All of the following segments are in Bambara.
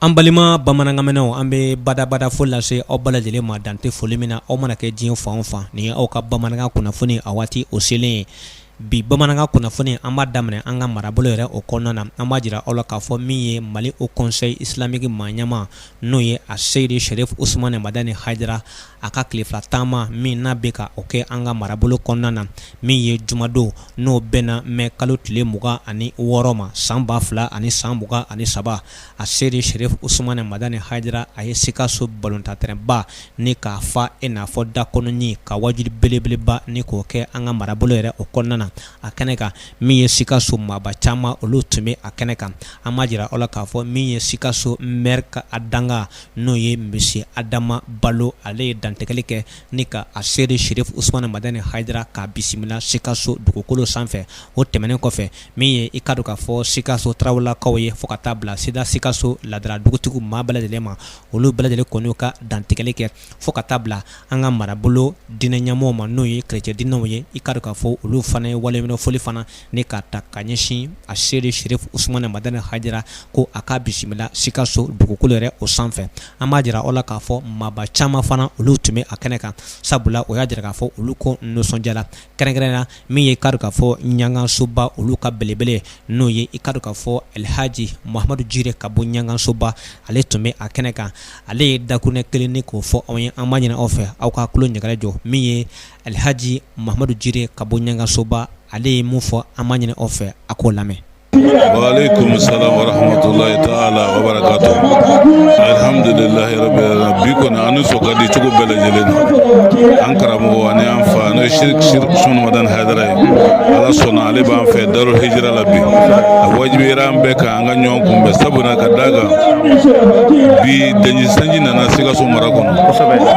An balima bamanankanmɛnnaw an bɛ badabada fo lase aw bɛɛ lajɛlen ma dan tɛ foli min na aw mana kɛ diɲɛ fan fan nin ye aw ka bamanankan kunnafoni a waati o selen ye bi bamanankan kunnafoni an b'a daminɛ an ka marabolo yɛrɛ o kɔnɔna na an b'a jira aw la k'a fɔ min ye mali haut conseil islamique maa ɲɛma n'o ye aseyidi serifu usumani madani hayidara a ka tile fila taama min n'a bɛ ka o kɛ an ka marabolo kɔnɔna na min ye jumadon n'o bɛnna mɛ kalo tile mugan ani wɔɔrɔ ma san ba fila ani san mugan ani saba aseyidi serifu usumani madani hayidara a ye sikaso balɔntan tɛrɛnba ni k'a fa i n'a fɔ da kɔnɔni ka waajuli belebeleba ni k'o kɛ an ka marabolo yɛrɛ o kɔnɔna na a kɛnɛ kan min ye sikaso maaba caman olu tun bɛ a kɛnɛ kan an b'a jira aw la k'a fɔ min ye sikaso mɛri ka dankan n'o ye misiye adama balo ale ye dantigɛli kɛ ni ka aseyidi serifu usumani madani hayidara k'a bisimila sikaso dugukolo sanfɛ o tɛmɛnen kɔfɛ min ye i k'a dɔn k'a fɔ sikaso tarawelelakaw ye fo ka taa bila sida sikaso laadala dugutigi maa bɛɛ lajɛlen ma olu bɛɛ lajɛlen kɔni ka dantigɛli kɛ fo ka taa bila an ka marabolo diinɛ ɲɛmɔgɔ ma n'o ye kerecɛn diinɛw ye i k'a dɔn k'a fɔ olu fana ye waleɲumandɔn foli fana ni k'a ta ka ɲɛsin aseyidi serifu usumani madani hayidara ko a k'a bisimila sikaso dugukolo yɛrɛ o sanfɛ an b'a jira aw la k'a fɔ maaba caman fana olu tun bɛ a kɛnɛ kan sabula o y'a jira k'a fɔ olu ko nisɔndiyara kɛrɛnkɛrɛn na min ye i k'a dɔn k'a fɔ ɲagansoba olu ka belebele n'o ye i k'a dɔn k'a fɔ alhaji mahamadu jire ka bɔ ɲagansoba ale tun bɛ a kɛnɛ kan ale ye dakuruɲɛ kelen ni k'o fɔ anw ye an b'a ɲini aw fɛ aw ka tulo ɲɛgɛlɛ jɔ min ye Alilhajimadu mamadu jiri ka bɔ ɲkasoba ale ye mun fɔ an ma ɲini aw fɛ a k'o lamɛn laha bi kɔni an sɔrɔ di cogo bɛɛ lajɛlen an karamɔgɔ ani an fa n'o sundaha ye ala sɔnna ale b'an fɛ da hra la bi a wajibi an bɛɛ kan an ka ɲɔgɔn kunbɛn sabula ka d'a kan bi danji sanji nana sikaso mara kɔnɔ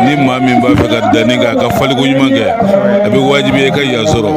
ni maa min b'a fɛ ka danni kɛ a ka faliko ɲuman kɛ a bɛ wajibiya i ka yan sɔrɔ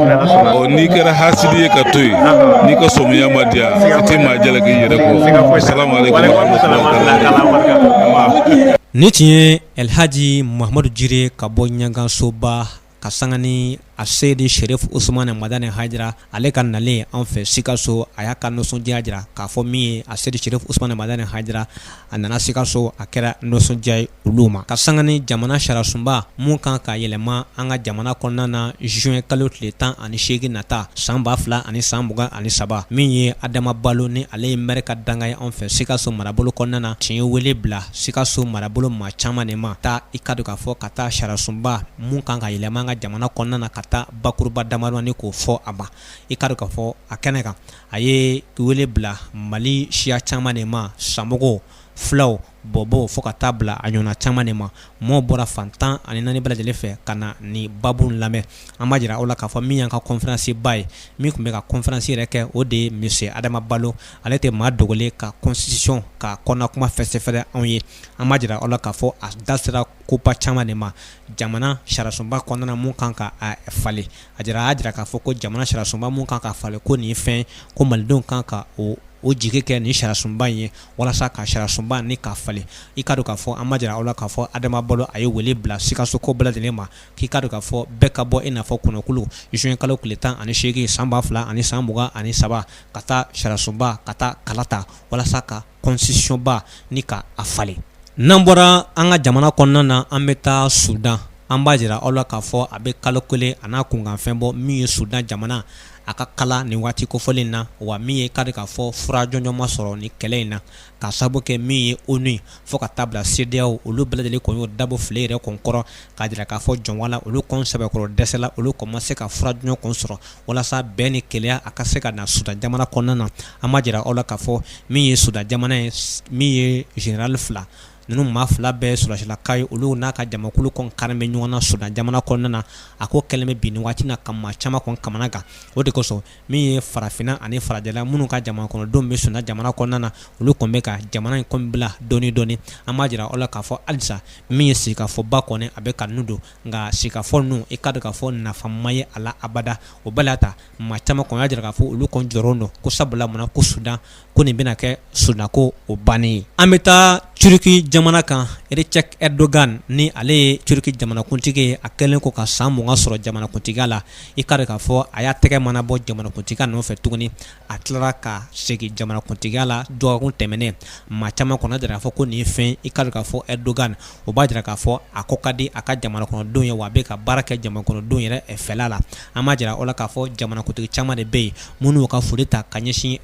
ɔ n'i kɛra hasidi ye ka to yen n'i ka samiya ma diya i tɛ maa jalaki i yɛrɛ kɔ asalamu aleykum warahmatullahi taala nin tun ye alhaji mahamadu jire ka bɔ ɲagansoba ka sanga ni aseyidi serifu usumani madani hayidara ale ka nalen an fɛ sikaso a y'a ka nisɔndiya jira k'a fɔ min ye aseyidi serifu usumani madani hayidara a nana sikaso a kɛra nisɔndiya ye olu ma ka sanga ni jamana sariyasunba min kan ka yɛlɛma an ka jamana kɔnɔna na zuwɛnkalo tile tan ani segin nata san ba fila ani san mugan ani saba min ye adama balo ni ale ye mɛri ka dankan ye an fɛ sikaso marabolo kɔnɔna na tun ye wele bila sikaso marabolo maa caman de ma taa i k'a dɔn k'a fɔ ka taa sariyasunba minnu kan ka yɛlɛma an ka jamana kɔnɔna na ka taa bakuruba damadɔni k'o fɔ a ma i k'a dɔn k'a fɔ a kɛnɛ kan a ye wele bila Mali siya caman de ma samɔgɔw fulaw bɔbɔw fo ka taa bila a ɲɔna caman de ma maaw bɔra fan 14 bɛɛ lajɛlen fɛ ka na nin baabu in lamɛn an b'a jira aw la k'a fɔ min y'an ka conférence ba ye min tun bɛ ka conférence yɛrɛ kɛ o de ye monsieur Adama Balo ale tɛ maa dogolen ka constitution ka kɔnɔnakuma fɛsɛfɛsɛ anw ye an b'a jira aw la k'a fɔ a da sera ko ba caman de ma jamana sariyasunba kɔnɔna minnu kan ka falen a jira a jira k'a fɔ ko jamana sariyasunba minnu kan ka falen ko nin fɛn ko malidenw kan ka o o jigi kɛ nin sariyasunba in ye walasa ka sariyasunba nin k'a falen i k'a dɔn k'a fɔ an b'a jira aw la k'a fɔ Adama Balo a ye wele bila Sikasokaw bɛɛ lajɛlen ma k'i k'a dɔn k'a fɔ bɛɛ ka bɔ i n'a fɔ kɔnɔkulu zuwɛnkalo tile tan ani seegin san ba fila ani san mugan ani saba ka taa sariyasunba ka taa kalata walasa ka constitution ba nin k'a falen n'an bɔra an ka jamana kɔnɔna na an bɛ taa Sudan an b'a jira aw la k'a fɔ a bɛ kalo kelen a n'a kunkanfɛn bɔ min ye Sudan jamana a ka kalan nin waati kofɔlen na wa min ye k'a dɔn k'a fɔ fura jɔnjɔn ma sɔrɔ ni kɛlɛ in na k'a sababu kɛ min ye ONU ye fo ka taa bila CEDEAO olu bɛɛ lajɛlen kɔn y'o da bɔ file yɛrɛ kɔn kɔrɔ k'a jira k'a fɔ jɔnwa la olu kɔn sɛbɛkɔrɔ dɛsɛla olu kɔn ma se ka fura jɔnjɔn kɔn sɔrɔ walasa bɛn ni kelenya a ka se ka na Sudan jamana kɔnɔna na an b'a jira aw la k'a fɔ min ye Sudan jamana ye min ye zenerali fila ninnu maa fila bɛɛ Sudan silaka ye olu n'a ka jamakulu kɔn karilen bɛ ɲɔgɔn na Sudan jamana kɔnɔna na a ko kɛlen bɛ bi nin waati na ka maa caman kɔn kamanagan o de kosɔn min ye farafinna ani farajɛla minnu ka jamana kɔnɔdenw bɛ Sudan jamana kɔnɔna na olu kɔn bɛ ka jamana in kɔn bila dɔɔnin dɔɔnin an b'a jira aw la k'a fɔ halisa min ye sigikafɔba kɔni a bɛ ka ninnu don nka sigikafɔ ninnu i k'a dɔn k'a fɔ nafa ma ye a la abada o bɛɛ la ta maa caman kɔn y'a jira k'a fɔ olu kɔn jɔrɔlen don ko sabula mun na ko Sudan ko nin bɛna kɛ Sudan ko o bannen ye an bɛ taa Turki jamana kan Recep Erdogan ni ale ye Turki jamanakuntigi ye a kɛlen kɔ ka san mugan sɔrɔ jamanakuntigiya la i k'a dɔn k'a fɔ a y'a tɛgɛ mana bɔ jamanakuntigiya nɔfɛ tuguni a tilara ka segin jamanakuntigiya la dɔgɔkun tɛmɛnen maa caman kɔn y'a jira k'a fɔ ko nin ye fɛn i k'a dɔn k'a fɔ Erdogan o b'a jira k'a fɔ a ko ka di a ka jamanakɔnɔdenw ye wa a bɛ ka baara kɛ jamanakɔnɔdenw yɛrɛ fɛla la an b'a jira aw la k'a fɔ jamanakuntigi caman de bɛ yen minnu y'u ka foli ta ka ɲɛsin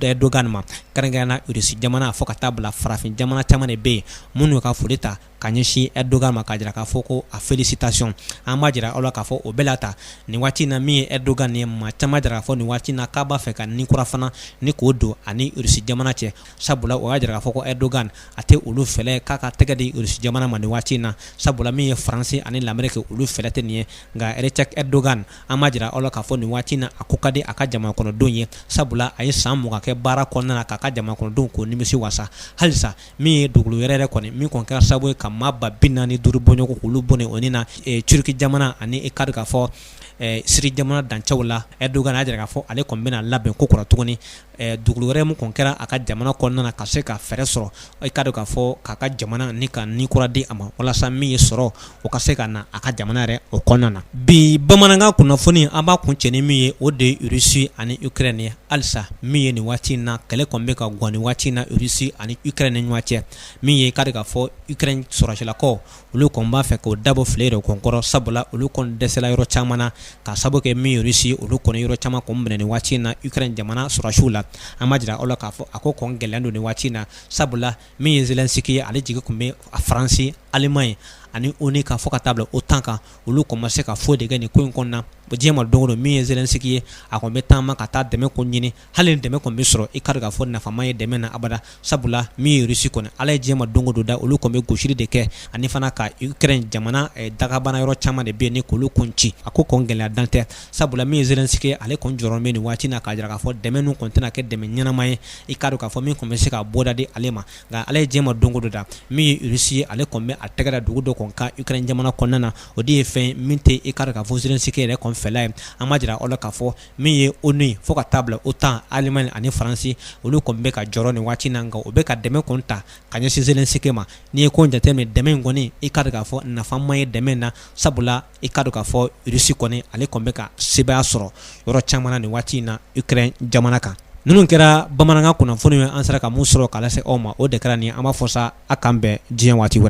Erdogan ma kɛrɛnkɛrɛnnenya la Russie jamana fo ka taa bila farafin jamana caman de bɛ yen minnu y'u ka foli ta ka ɲɛsin Erdogan ma k'a jira k'a fɔ ko a félicitation an b'a jira aw la k'a fɔ o bɛɛ la ta nin waati na min ye Erdogan ye maa caman y'a jira k'a fɔ nin waati na k'a b'a fɛ ka ni kura fana nin k'o don a ni Rusi jamana cɛ sabula o y'a jira k'a fɔ ko Erdogan a tɛ olu fɛlɛ k'a ka tɛgɛ di Rusi jamana ma nin waati in na sabula min ye Faransi ani Lameriki olu fɛlɛ tɛ nin ye nka Recep Erdogan an b'a jira aw la k'a fɔ nin waati na a ko ka di a ka jamana kɔnɔdenw ye sabula a ye san mugan kɛ baara kɔnɔna na k'a ka jamana kɔnɔdenw k'u nimisi wasa halisa min ye dugukolo yɛrɛyɛrɛ kɔni min kɔni kɛra sababu ye ka maa ba bi naani ni duuru bɔɲɔgɔn k'olu bɔnɛ o ni na turki jamana ani i k'a dɔn k'a fɔ siri jamana dancɛw la erdogan y'a jira k'a fɔ ale kɔni bɛna labɛn kokura tuguni dugukolo wɛrɛ min kɔni kɛra a ka jamana kɔnɔna na ka se ka fɛɛrɛ sɔrɔ i k'a dɔn k'a fɔ k'a ka jamana ni ka ni kura di a ma walasa min ye sɔrɔ o ka se ka na a ka jamana yɛrɛ o kɔnɔna na bi bamanankan kunnafoni an b'a kuncɛ ni min ye o de ye rusi ani ukrɛni ye halisa min ye nin waati in na kɛlɛ kɔn bɛ ka gan ni waati in na rusi ani ukrɛni ni ɲɔgɔn cɛ min ye i k'a dɔn k'a fɔ ukrɛni sɔrɔsilakaw olu kɔn b'a fɛ k'o dabɔ filɛ yɛrɛ kɔn kɔrɔ sabula olu kɔn dɛsɛla yɔrɔ caman na k'a sababu kɛ min ye rusi olu kɔn yɔrɔ caman kɔn minɛ nin waati in na ukrɛni jamana sɔrɔsiw la an b'a jira aw la k'a fɔ a ko kɔn gɛlɛn don nin waati in na sabula min ye zelensiki ye ale jigi tun bɛ faransi alimaɲi ani onu kan fo ka taa bila otan kan olu kɔn ma se ka foyi de kɛ nin ko in kɔnɔna diɲɛ ma don o don min ye zelensiki ye a kɔn bɛ taama ka taa dɛmɛ ko ɲini hali ni dɛmɛ kɔni bɛ sɔrɔ i k'a dɔn k'a fɔ nafa ma ye dɛmɛ na abada sabula min ye rusi kɔni ala ye diɲɛ ma don o don da olu kɔn bɛ gosili de kɛ ani fana ka ukrɛni jamana dagabana yɔrɔ caman de bɛ yen ni k'olu kun ci a ko kɔn gɛlɛya dan tɛ sabula min ye zelensiki ye ale kɔn jɔrɔlen bɛ nin waati na k'a jira k'a fɔ dɛmɛ ninnu kɔn tɛna kɛ dɛmɛ ɲɛnama ye i ka k'a fɔ min kɔn bɛ se ka bɔda di ale ma nka ala ye diɲɛ ma don o don da min ye rusi ye ale kɔn bɛ a tɛgɛ da dugu dɔ kɔn kan ukrɛni jamana kɔnɔna na o de ye fɛn min tɛ i ka k'a fɔ zelensiki yɛrɛ kɔn fɛla ye an b'a jira aw la k'a fɔ min ye onu ye fo ka taa bila otan alimaɲi ani faransi olu kɔn bɛ ka jɔrɔ nin waati na nka o bɛ ka dɛmɛ kɔn ta ka ɲɛsin zelensiki ma n'i ye ko jate dɛmɛ in kɔni i ka k'a fɔ nafa ma ye dɛmɛ in na sabula i k'a dɔn k'a fɔ rusi kɔni ale kɔni bɛ ka sebaaya sɔrɔ yɔrɔ caman na nin waati in na ukrɛni jamana kan ninnu kɛra bamanankan kunnafoni ye an sera ka min sɔrɔ k'a lase aw ma o de kɛra nin an b'a fɔ sa a k'an bɛn diɲɛ waati wɛrɛ